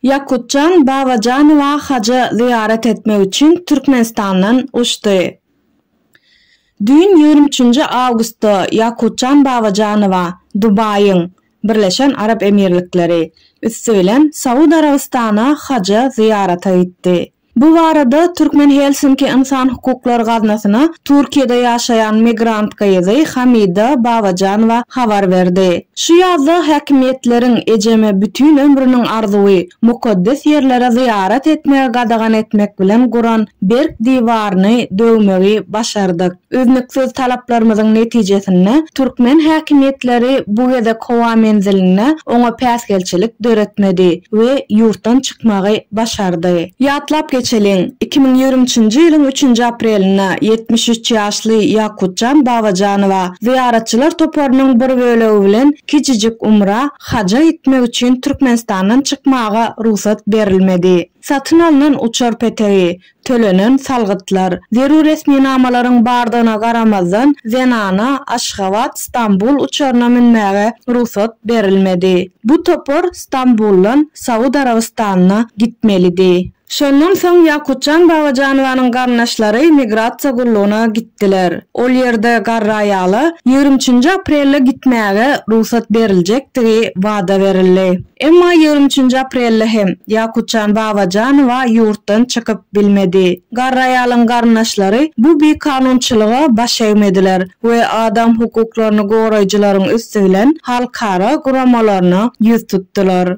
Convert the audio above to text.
Ýakutjan Babajanowa haja zyýarat etmek üçin Türkmenistandan uçdy. Düýn, ýigrimi üçünji awgustda Ýakutjan Babajanowa Dubaýyň, Birleşen Arap Emirlikleri, üsti bilen Saud Arabystana haja zyýarata gitdi. Bu barada Türkmen Helsinki ynsan hukuklar gaznasyna Türkiýede ýaşaýan migrant gyzy Hamida Babajanowa habar berdi. Şu ýazda häkimiýetleriň ejeme bütin ömrüniň arzuwy, mukaddes ýerlere zyýarat etmegi gadagan etmek bilen guran berk diwaryny döwmegi başardyk. Üznüksiz talaplarymyzyň netijesinde, türkmen häkimiýetleri bu gezek howa menzilinde oňa päsgelçilik döretmedi we ýurtdan çykmagy başardy. Ýatlap geçeliň, iki müň ýigrimi üçünji ýylyň üçünji aprelinde ýetmiş üç ýaşly Ýakutjan Babajanowa zyýaratçylar toparynyň bir bölegi bilen kiçijik umra, haja, gitmek üçin Türkmenistandan çykmaga rugsat berilmedi. Satyn alnan uçar petegi, Tölenen salgytlar, zerur resminamalaryň bardygyna garamazdan, zenana Aşgabat, Stambul uçaryna münmäge rugsat berilmedi. Bu topar Stambuldan Saud Arabystanyna gitmelidi. Şondan soň Ýakutjan Babajanowanyň garyndaşlary migrasiýa gullugyna gitdiler. Ol ýerde garry aýala ýigrimi üçünji aprelde gitmäge rugsat beriljekdigi wada berildi. Emma ýigrimi üçünji aprelde hem Ýakutjan Babajanowa ýurtdan çykyp bilmedi. Garry aýalyň garyndaşlary bu bikanunçylyga baş egmediler we adam hukuklaryny goraýjylaryň üsti bilen halkara guramalaryna ýüz tutdular.